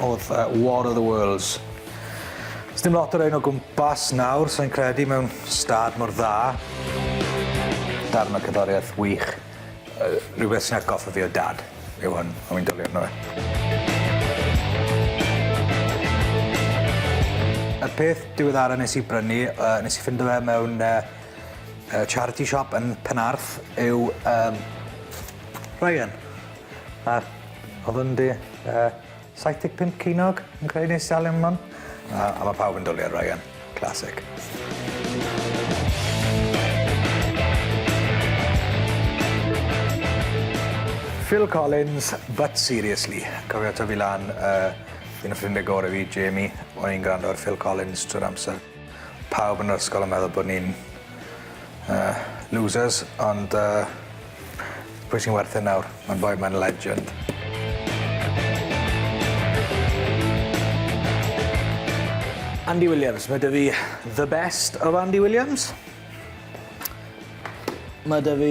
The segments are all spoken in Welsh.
oedd uh, War of the Worlds. Os dim lot o'r ein o gwmpas nawr, so'n credu mewn stad mor dda. Darn o cyddoriaeth wych. Yy rhywbeth sy'n atgoffa fi o dad yw hwn a wi'n dwli arno fe. Y peth diweddara nes i brynu yy nes i ffindo fe mewn yy yy charity shop yn Penarth yw yym Ryan a o'dd yn 'di yy 75 ceiniog yn creu neis iawn iawn man. A a ma' pawb yn dwli ar Ryan. Classic. Phil Collins, but seriously. Cofio tyfu lan yy un o ffrindie gore fi, Jamie, o'n i'n grando ar Phil Collins trwy'r amser. Pawb yn yr ysgol yn meddwl bod ni'n yy losers ond yy pwy sy'n werth e nawr? Ma'r boi 'ma'n legend. Andy Williams, ma' 'dy fi the best of Andy Williams. Ma' 'dy fi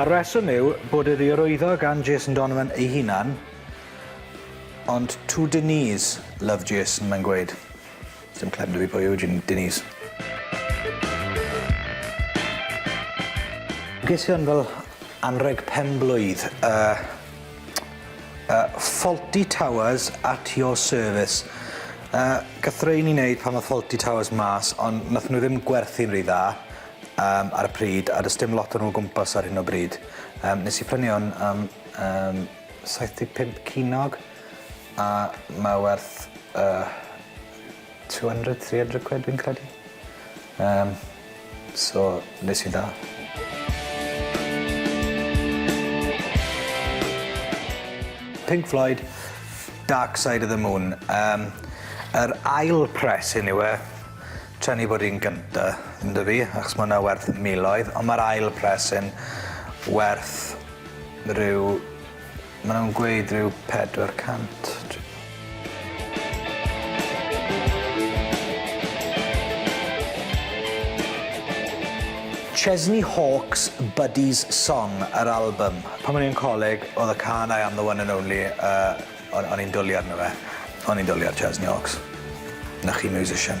A'r rheswm yw bod iddi rwyddo gan Jason Donovan ei hunan, ond to Denise, love Jason, mae'n gweud. Sdim clem da fi pwy yw Denise. Ges i hwn fel anrheg pen-blwydd, yy yy Fawlty Towers at your service. Yy gath rhein 'u neud pan ddoth Fawlty Towers mas ond nathon nhw ddim gwerthu'n rhy dda. Yym ar y pryd a does dim lot o nhw o gwmpas ar hyn o bryd. Yym nes i prynu hwn am yym 75 cinog a mae werth yy 200 300 quid fi'n credu. Yym so nes i'n dda. Pink Floyd Dark Side of the Moon yym yr ail press hyn yw e. Tra ni bod i'n gynta, yndw fi, achos ma' hwnna werth miloedd, ond ma'r ail presyn werth ryw, ma' nw'n gweud ryw pedwar cant dwi Chesney Hawkes Buddy's Song yr albym. Pan o'n i'n coleg o'dd y cân I am the one and only yy O'n o'n i'n dwli arno fe. O'n i'n dwli ar Jazz Niox. 'Na chi musician.